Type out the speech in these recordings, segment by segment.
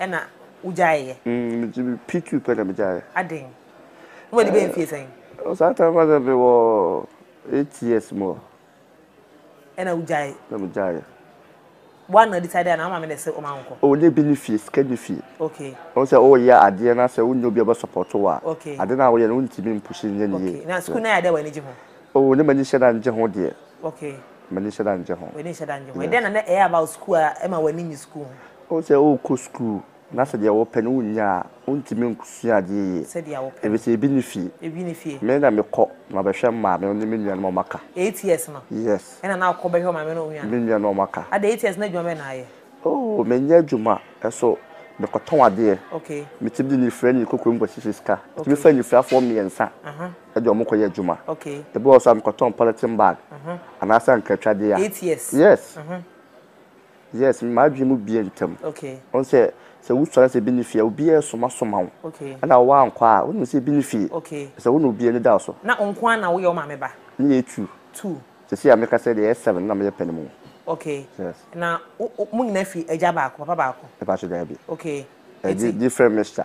Ɛna wo gyae yɛ. Mm P two pɛ na me gyae yɛ. Aden? Wo adi bɛyɛ mfie sɛn? Ɛɛ saa time fa sɛ me wɔ eight years mu hɔ. Ɛna wo gyae. Na me gyae yɛ. Wa na decide anaa wo maame na ɛsɛ ɔma wo nkɔ? Ɔnyɛ bi ne fie sika ne fie. Okay. Ɔhu sɛ wo yɛ adeɛ na sɛ wo nyɛ obi a ɔbɛ support wo a. Okay. Ade na wo yɛ no wo ntumi mpushi nyɛ ne yie. Okay na school na yɛ adeɛ a w'ani gye ho? Oh ne m'ani hyɛ da ngye ho deɛ. Okay. M'ani hyɛ da ngye ho. W'ani nhyɛ da ngye ho. Yes. Ɛdɛn na na ɛyɛ about school a ɛma w'ani nye school ho? Wohu sɛ worekɔ school na sɛdeɛ wopɛ no wonnya a, wontumi nkosua adeɛ yie. Sɛdeɛ wopɛ no. Efisɛ ebi nni fie. Ebi nni fie. Me na mekɔ na mabɛhwɛ mmaame no ne me nuanom a wɔaka. Eight years no. Yes. Ɛna na wokɔ bɛhwɛ ɔmaame no wo nuanom. Me nuanom a wɔaka. Adɛn eight years no adwuma bɛn na ayɛ? Oh menyɛ adwuma so mekɔtɔn adeɛ. Okay. Metumi de nifira ne kokoam kɔhyehyɛ sika. Metumi fa nifirafoɔ mmiɛnsa. Aha. ɛde wɔn kɔyɛ adwuma. Okay. Ebi wɔ so a mekɔtɔn polythene bag. Mhm. Anaasɛ ankratwadeɛ a. Eight years. Yes. Mhm. Yes, m'adwene mu bie ntɛm. Okay. Wɔn sɛ sɛ wosɔre sɛ ebi ne fie a obiara somasoma wo. Okay. Ɛna wɔn ankɔ a wonim sɛ ebi ne fie. Okay. Sɛ wo na obiara ne da so. Na nko ara na woyɛ wo maame ba. Ne yɛ two. Two. Sisi a meka sɛ deɛ yɛ seven na meyɛ panimu. Okay. Yes. Na mo nyinaa fi agya baako papa baako. Ɛpa so daabi. Okay. Ɛdi different mixture.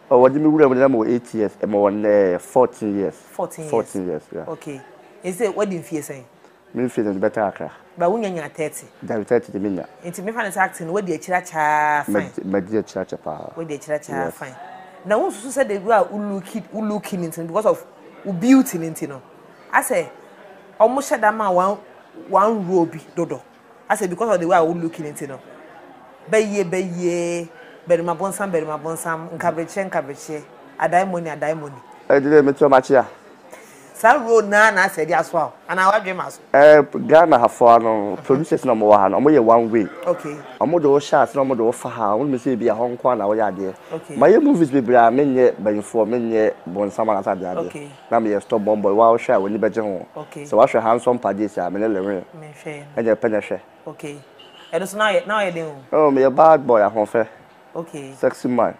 Oh wɔde me wura mu no na mewɔ eight years ɛma wɔ nnɛ fourteen years. Fourteen years fourteen years yeah. Okay nti sɛ wadi nfie sɛn. Me nfie no bɛtaa akra. Ba wo nya nyina thirty. Dabi thirty de me nya. Nti mefa no sɛ acting no wadi akyire akyɛaa fine. Madi akyire akyɛ paa. Wadi akyire akyɛaa fine. Na wo nsusu sɛ de wura wo looki wo looki no nti no because of wo beauty no nti no asɛ ɔmo hyɛ da ma one one role bi dodo. I say because of the way a wo looking nti no bɛyie bɛyiee barima bonsam barima bonsam nkabrekyeɛ nkabrekyeɛ adaemone adaemone. Ɛde deɛ metua makye a. Saa role no ara na asɛ de asoa wo anaa w'adwene ma so? Ɛɛ Ghana ha foɔ no producers na wɔwɔ ha no wɔyɛ one way. Okay. Wɔde wo hyɛ ase na wɔde wo fa ha a wonim sɛ ebi a hɔ nko ara na woyɛ adeɛ. Okay. Mayɛ movies bebree a menyɛ bayifoɔ menyɛ bonsam anaasɛ adeadeɛ. Okay. na meyɛ stop bɔn bɔn waa wohwɛ a w'ani bɛgye ho sɛ w'ahwɛ ha nsɔ mpa gyesi a me ne lewee ɛnyɛ pɛ na ɛhwɛ ok ɛno so na na ɔyɛ den o oh meyɛ bad boy ahofɛ ok sexy man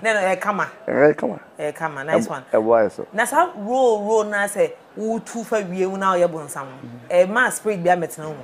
na na ɛkama ɛkama ɛkama nice one ɛboa yɛ so na saa role role na sɛ wotu fa wie mu na ɔyɛ bonsam ɛma spirit bi amɛtena mu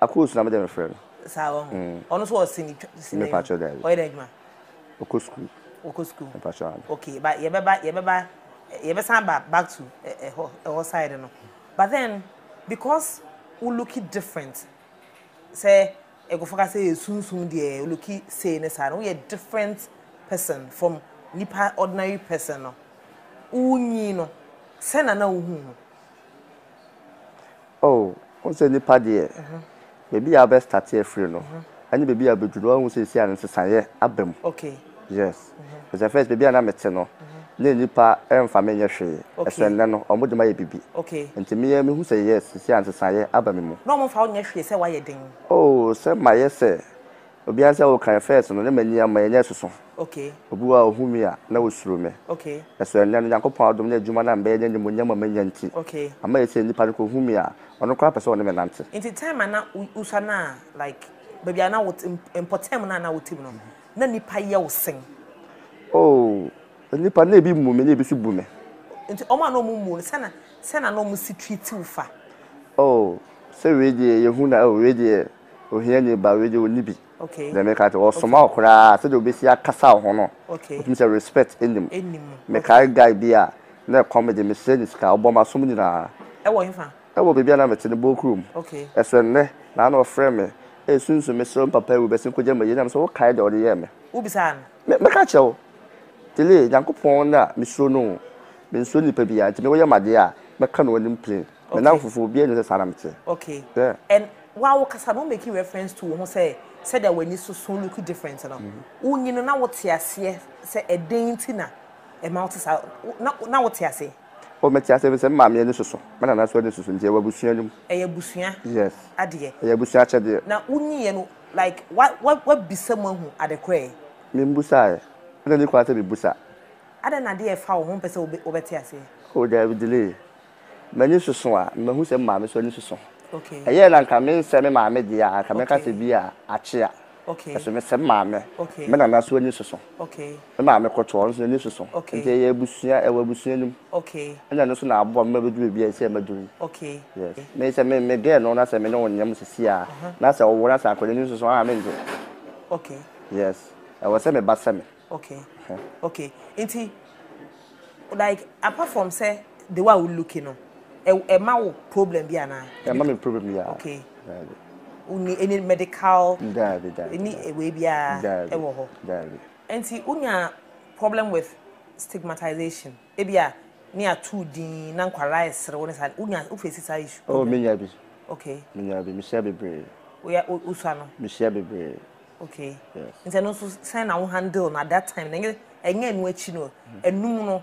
Akosu na me de no frɛ no. Saa wɔ ho. Ɔno nso wɔ sini twa sini. Me patrɔ daabi. Ɔyɛ dɛ adwuma. Ɔkɔ sukuu. Ɔkɔ sukuu. Me patrɔ ano. Okay ba yɛ bɛ ba yɛ bɛ ba yɛ bɛ san ba back to ɛhɔ ɛhɔ side no but then because wo looki different sɛ nkɔfɔ ka sɛ yɛ sunsum deɛ wo looki sei ne saa no wo yɛ different person from nipa ordinary person no wo nyin no sɛ na na wo hu no. Oh, wohu sɛ nnipa deɛ, baabi a wobɛ start afiri no, ɛne baabi a wobɛduru, woahu sɛ ɛsi a no nsesaeɛ aba mu. Okay. Yes. It's the first, baabi a na mete no, na nnipa ɛmfa me nyɛ hwee. Okay. Ɛsɛ nnɛ no, wɔn de ma yɛ bibi. Okay. Nti me yɛ, mehu sɛ yes, ɛsi a nsesaeɛ aba me mu. Na wɔn mfa wo nyɛ hwee sɛ woayɛ den? Oh, sɛ mayɛ sɛ, Obiara sɛ wo kan first no na m'ani ama yɛ nyɛ soso obi wa ohu me a na osuro me nso ɛnɛ no Nyankopɔn adom ne adwuma na mbɛyɛ ne animonyam a manya nti ama yɛ sɛ nipa no kɔ hu me a ɔno koraa pɛ sɛ ɔne me nante. Nti time a na wosua no a like baabi a na wo mpɔtam no a na wo te mu no na nipa yɛ wo sen? Oh nipa na ebi mmu me na ebi nso bu me. Nti ɔmo a na ɔmo mmu wo no sɛ na sɛ na na ɔmo si treat wo fa? Oh sɛ wei deɛ yɛ hu na oh wei deɛ. Ohiani ba wei deɛ ɔnni bi. Deɛ meka kyerɛ ɔsoma wo koraa sɛdeɛ ɔbɛsi akasa wo ho no wotumi sɛ respect nni mu. Mekae guy bi a na ɛkɔm megye mehyɛɛ ne sika ɔbɔɔ m'asom nyinaa. Ɛwɔ hefa? Ɛwɔ baabi a na mete no Bokuro mu. Ɛso ɛnnɛ na na ɔfrɛ me ɛresunsum me serɛ wo mpapa awu bɛsi nkɔgya m'ayie na me sɛ wokae deɛ ɔde yɛɛ me? Wobisaa no? Me meka kyerɛ wo Tilly Nyankopɔn na mesuro no o mensuro nipa biara nti me woyɛ me adeɛ a mɛka no w'anim plain. Me nan fufuo obiara nim sɛ saa na me teɛ. Okay. Yeah. And wa wo kasa no make reference to wo ho sɛ sɛdeɛ w'ani soso look different no. Mm-hmm. Wo nyi no na wo te aseɛ sɛ ɛdɛn ti na ɛma wo te saa na na wo te aseɛ. O oh, me te aseɛ sɛ maame ani soso me nana so ani soso nti ɛwɔ abusua no mu. Ɛyɛ abusua. Yes. Adeɛ. Ɛyɛ abusua akyɛdeɛ. Na wo nyi yɛ no like wa wa wa bisa mu ahu adekorɛ. Me mbusa yɛ. Ɛna ni kwan sɛ me busa. Adɛn na adeɛ ɛfa wo ho mpɛ sɛ wobɛte aseɛ. O oh, daabi delay. M'ani soso a, mahu sɛ me maame nso ani soso. Ɛyɛɛ na anka mensɛ me maame deɛ a, anka mɛka sɛ bi a akyea. Nanso mesɛ me maame. Me nana nso ani soso. Me maame kɔtɔ, ɔno nso n'ani soso. Nti yɛyɛ abusua, ɛwɔ abusua no mu. Ɛna ɛno nso na aboa me ma mɛduru baabi a ɛsɛ sɛ mɛduru yi. Yes. Me sɛ me girl no na sɛ me ne wo nyɛ mu seesei a, na sɛ ɔwo na sɛ anka ɔde n'ani soso a, merennye. Yes. Ɛwɔ sɛ me ba sɛ me. Okay okay nti like apart from sɛ the way a wo looki no ɛ ɛma wo problem bi anaa. Ɛma mi problem bi a. Okay. Daabi. Wonni any medical. Daabi daabi. Any ewei biara. Daabi. Ɛwɔ hɔ. Daabi. Nti wonya problem with stigmatization. Ebia ne atuu din na nkwadaa ɛsere wo ne saa wonya wo face saa issue. Oh me nya bi. Okay. Me nya bi me hyia bebree. Wo ya wo sua no. Me hyia bebree. Okay. Yes. Nti ɛno nso sɛn na wo handle no at that time na ɛnyɛ ɛnu akyi no ɛnum no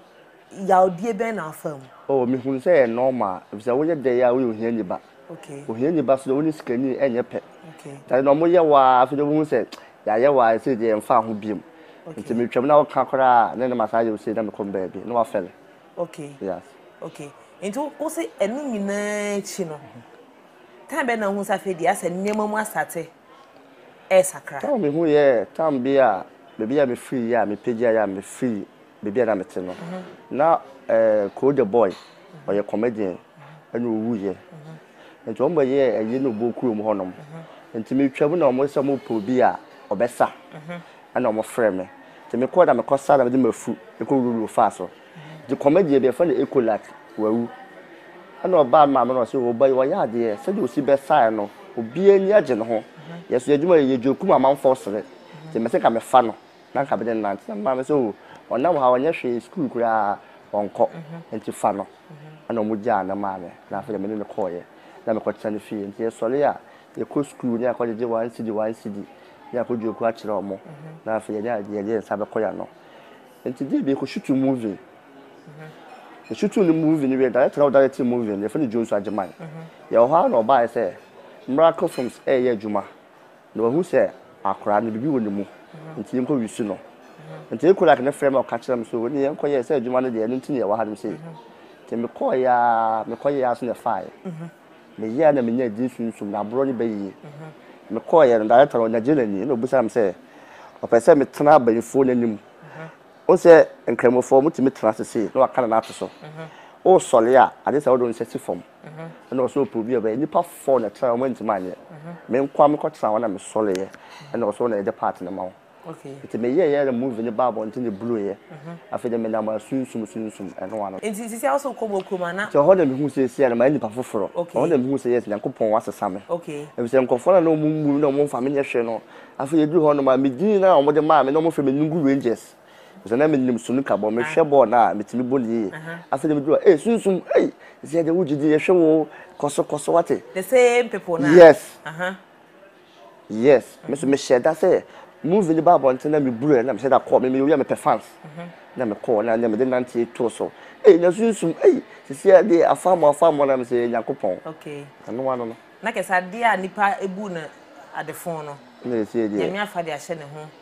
yawdie bɛn na afa mu. Oh me hunu sɛ yɛ normal efisɛ wo yɛ dɛ yɛ a wo yɛ ohia niba. Okay. Ohia niba so de wo ne sikani ɛnyɛ pɛ. Okay. Tade na ɔmo yɛ wo a afei de wo hu sɛ Yɛayɛ wo a ɛsei deɛ ɛmfa ho biom nti me twam na wo ka koraa a ne ne masan ayɛ wo sei na me kɔm baabi na wafɛle yes. Ok nti wo se ɛno nyinaa akyi no time bɛn na wohu sɛ afei deɛ asɛ nneɛma mu asate ɛresakra. Time me hu yɛɛ time bi a baabi a me firi yɛ a me pagya yɛ a me firi baabi a na me te no na eh Koo the boy ɔyɛ comedian ɛna ɔwu yɛ. Enti wɔn bɛyɛɛ ayi no bɔ kurom hɔ nom. Enti me twa mu na wɔn sɛ wɔn pɛ obi a ɔbɛ sa. Ɛna wɔn frɛ me. Enti me kɔ na me kɔ sa na me de mafu ɛkɔ wuru wuru faa so. Enti kɔmɛ deɛ bi ɛfɛ no ecolat wawu. Ɛna ɔbaa me maame na ɔse o ba yi wɔyɛ adeɛ sɛdeɛ osi bɛ saɛ no obi ani agye ne ho. Yɛ so yɛ adwuma yɛ gye okum amanfɔɔ sere. Enti mese nka me fa no na nka me de no nante. Na me maame se o ɔnam ha ɔnyɛ hwee school koraa ɔnkɔ enti fa no. ɛna ɔmo gyaa ne maame na afei deɛ me ne no kɔɔeɛ na me kɔ tena ne fie nti yɛsɔre a yɛkɔ sukuu ne akɔ gyegye one cedi one cedi ne akɔ dua kuo akyerɛ ɔmo na afei yɛne a yɛde yɛn nsa bɛkɔ yɛ ano nti deɛ bi yɛkɔ shutu movie yɛ shutu ne movie ne wiɛ director na ɔda yɛ te movie no yɛfɛ ne Jones Agyeman yɛwɔ hɔ a na ɔbaeɛ sɛ miracle films ɛɛyɛ adwuma. Na wahu sɛ akwadaa no, biribi wɔ ne mu, nti yɛnkɔwisu no. Nti Ekolak no frɛɛ me a ɔka kyerɛɛ me sɛ, O, ɛnneɛ yɛnkɔyɛ sɛ adwuma no deɛ, ɛno nti na yɛwɔ hanom sei. Nti mekɔeɛ ara, mekɔyɛɛ ara so na ɛfaeɛ. Meyɛɛ ara na menyaa edin Sunsum, na aborɔ reba yie. Mekɔeɛ no, director no, ɔnya gyee n'ani, ɛnna ɔbisaa me sɛ, Ɔpɛ sɛ metena abayifoɔ no anim? Wohu sɛ Nkramofoɔ, wɔtumi tena ase sei, na wɔaka no na ato so. Woresɔre a, agye sɛ wode wo nsa si fam. ɛna ɔsɛ ɔpɛ obi a ɔbɛyɛ nipa four na ɛtra wɔn ntoma anyɛ me nkoa me kɔtra wɔn na me sɔre yɛ ɛna ɔsɛ ɔna ɛde part no ma wɔn nti me yɛ yɛ na movie no ba abɔnten ne bulu yɛ afei de me nam asunsum sunsum ɛno ano. nti sisi awo sɛ kɔ bɔ kurom ana. nti ɔhɔ na me hu sɛ esi na ma yɛ nipa foforɔ ɔhɔ na me hu sɛ yes nyankopɔn wa sesa me efisɛ nkorɔfoɔ na na wɔn mmu na wɔn nfa me nyɛ hwɛ no afei eduru hɔ nom a me din na wɔn de maa me na wɔn fɛ me Nungu Rangers. Osian dɛ minyim sunuka bɔ, mehwɛ bɔɔl no a, mitumi bɔ no yie. Afei dze midur hɔ a, ei, Sunsum, ei, Sia dze wo gyedzi, yɛhwɛ wo o, kɔ so, kɔ so, wɔatse? The same people no a? Yes. Yes. Me so mehyɛɛ da sɛ movie no ba abɔntsen na mibur ɛ, na mehyɛ da kɔ, me meyɛ obi a mepɛ fans. Na mekɔ hɔ na nna medze nantsie too so. Ei, na Sunsum, ei, seseiara de, afaamu, afaamu, na mese, Nyankopɔn, ano ano no. Na kɛse adeɛ a nipa bu no adefo no, Nyame afa de ahyɛ ne ho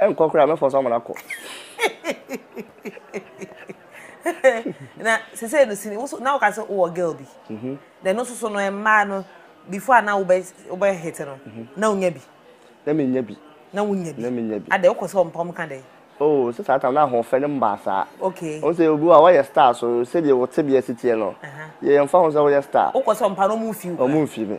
ɛnkɔ koraa mɛfɔ so ama no akɔ na sese no sini woso na woka sɛ wowɔ girl bi mhm. na ɛno soso no mmaa no before a na wobɛ wobɛ hit no mhm. na wonya bi na menya bi na wonya bi na menya bi adɛ wokɔ sɛ ɔmpɔm ka dɛ oh sɛ saa tam na ahoɔfɛ no mbaa saa okay wo sɛ obi a wɔyɛ star so sɛdeɛ wo tebea si teɛ no yɛmfa ho sɛ woyɛ star wokɔ sɛ ɔmpa no ɔmo mfi wo ɔmo mfi me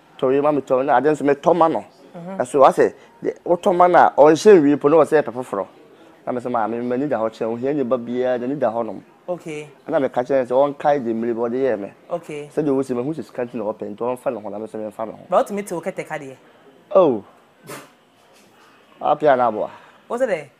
tɔ yei ma me tɔ na ade nso metɔ ma no ɛso asɛ wotɔ ma no a ɔnhyɛ nwie po na ɔsɛ ɛpɛ foforɔ na mesɛ maa me m'ani da hɔ kyɛn ohia ni ba biara n'ani da hɔ nom ɛna meka kyɛn sɛ ɔnkae de mmiri bi ɔde yɛɛ me sɛdeɛ ɔsi me ho sɛ sika nti na ɔpɛ nti ɔmfa ne ho na mesɛ memfa me ho ba wotumi te wo kɛtɛ ka deɛ oh apia na aboa wo sɛ dɛ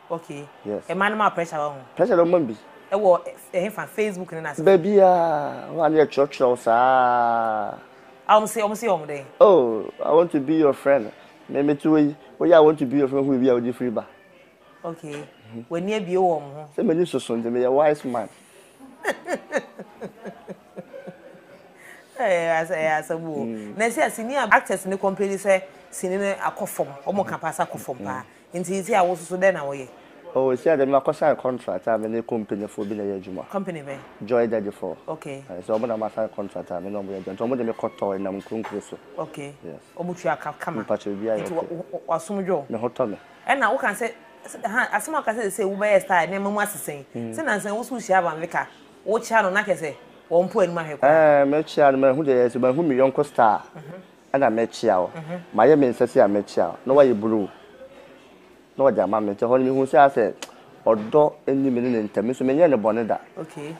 Ok Yes. Mmaa no ma wo pressure wɔ ho. Pressure na ɔma bi. Ɛwɔ ɛhe fa Facebook ne n'ase. Baabiaa hɔ a ne yɛ twerɛ twerɛ wo saa. A wɔn se wɔn se yɛ wɔn dɛn. Oh I want to be your friend me me te hɔ yi wo yɛ I want to be your friend hu baabi a wode firi ba. Ok w'ani abue wɔ wɔn ho. Sɛ m'ani soso nti me yɛ wise man. Ɛyɛ asa ɛyɛ asɛm o. Na ɛsɛ a sini a actors no complain sɛ sini no akɔ fam wɔn ka paa sɛ akɔ fam paa Ntsi isi a wososo dɛn na wɔyɛ? Oh, isi a dɛ me makɔ sign contract a me ne company foɔ bi na yɛ adwuma. Company bɛn? Joy Daddy foɔ. Okay. Aye, isi ɔmo na ma sign contract a me ne ɔmo yɛ adwuma, ntsi ɔmo de me kɔ tɔ nam nkurunkuru so. Okay. Yes. Ɔmo tua ka kama. Me pakyɛ biribiara yɛ okay. Ntsi wo w'asom dwo? Me ho tɔ me. Ɛna wo ka sɛ, ha, asem a wo ka sɛ sesei wo bɛyɛ star, nneɛma mu asesa yi, sɛ nansa yi wo so wo hyia Van Vicker, wo kyea no na kyerɛ sɛ wɔn mpo anim ahwɛ koraa. Ɛɛ, me kyea no, mahu deɛ yɛyɛ, so mahu me yɔnko star, ɛna mɛkyea wo, mayɛ me nsa sei a mɛkyea wo, na wayɛ blue na ɔde ama me, nti ɛhɔ no mehuu sɛ asɛ ɔdɔ nni me ne ne ntam, me nso menyɛɛ no bɔne da,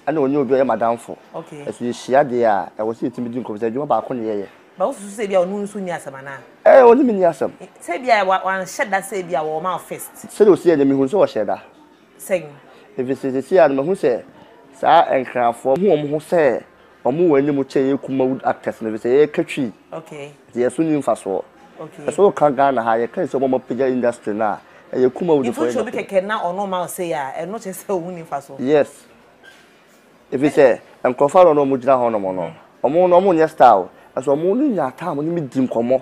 ɛna ɔnyɛ obi a ɔyɛ m'adamfo, ɛso yɛhyia deɛ a ɛwɔ sɛ yɛtumi di nkɔmmɔ, sɛ adwuma baako na yɛyɛ. But wosusu sɛ ebi a ɔne wo nso nni asɛm anaa? Ɛɛ ɔne me nni asɛm. Sɛ ebi a wanhyɛ da sɛ ebi a ɔma wo first? Sɛdeɛ ɔsi yɛ deɛ mehunu sɛ ɔhyɛɛ da. sɛn? Ɛfiri sɛ seesei ara no mahu sɛ saa Nkrafoɔ hu wɔn ho sɛ wɔwɔ anim kyɛn yɛn Kumawood actors no, ɛfiri sɛ yɛka Twi, nti yɛn so nni mfasoɔ. Hwɛ sɛ woka Ghana ha a, yɛka yɛn sɛ wɔn a wɔapagya industry no a, ɛyɛ Kumawoodfoɔ yɛ Mfuturo bi dapɛn. kɛkɛ na ɔno rema wo sei a, ɛno kyerɛ sɛ ɔnni mfasoɔ? Yes. Ɛfiri sɛ nkurɔfoɔ ahoroɔ no a wɔgyina hɔnom no, wɔn no wɔnyɛ star o, nanso wɔn no nya time no me di nkɔmmɔ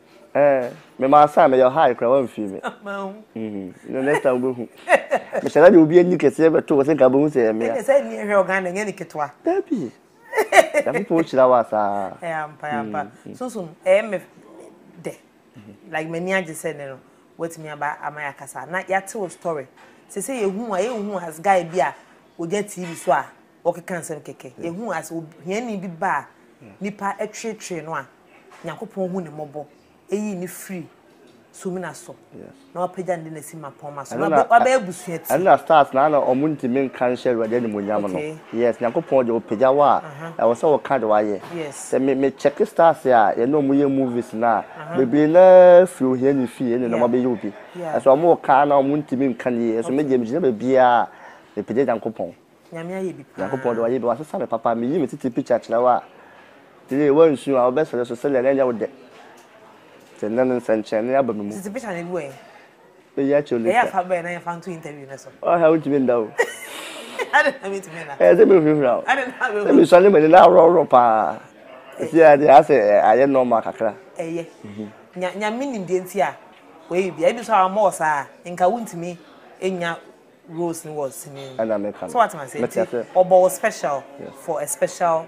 Eh, me ma sign me your high kura wan fi me. Mhm. No next time we hu. Me shala de obi ani kese be to se ka be hu se e me. Ene se ni ehwe ogan na nya ni ketwa. Dabi. Ya ko po chira wa sa. Eh ampa ya ampa. Sunsum eh me de. Like me ni aje se ne no. What me aba ama ya kasa. Na ya te o story. Se se ye hu a ye hu as guy bi a oja TV so a. Wɔkeka nsɛm kɛkɛ. Yɛhu a sɛ ohiani bi ba a nnipa tweetwee no a, Nyankopɔn hu ne mmɔbɔ, eyi ne firi sumina so, na wapagya no de no asi mmapɔmma so, na wabɛyɛ abusua ti. Ɛno na stars no ara na wɔntumi nka nhyɛ Awurade animuonyam no. Yes, Nyankopɔn deɛ ɔpagya wo a, ɛwɔ sɛ woka deɛ wayɛ. Sɛ me me check stars a yɛne wɔn yɛ movies no a, bebree no ara firi ohiani fie ɛne na wɔabɛyɛ obi. Ɛso wɔreka ara na wɔntumi nka no yie. Ɛso me deɛ megyina baabiara a, mepagya Nyankopɔn. Nyame ayɛ bi paa. Nyankopɔn de wayɛ bi wasesa me papa meyi me tete picture kyerɛ wo a tee wansu a wobɛsere so sɛdeɛ na ɛnyɛ wo dɛ te nnɛ no nsɛnkyerɛnne aba me mu. Tete picture na ebu ɛ. Bɛyi akyerɛ later. Ɛyɛ a fa bɛɛ na yɛfa nto interview no so. Ɔha wontumi nda o. Adɛn na mentumi nna? Ɛyɛ sɛ mehurahura o. Adɛn na mehurahura? Sɛ mesua ne m'ani na aworɔworɔ paa. Ɛsi a deɛ asɛ ayɛ normal kakra. Ɛyɛ. Nyame nim deɛ nti a wayɛ biribiara. Ebi nso a wammɔ wo saa a nka wontumi nnya roles no wɔ sini mu. Ɛna meka no. So wate m'ase nti ɔbɔ wo special for a special.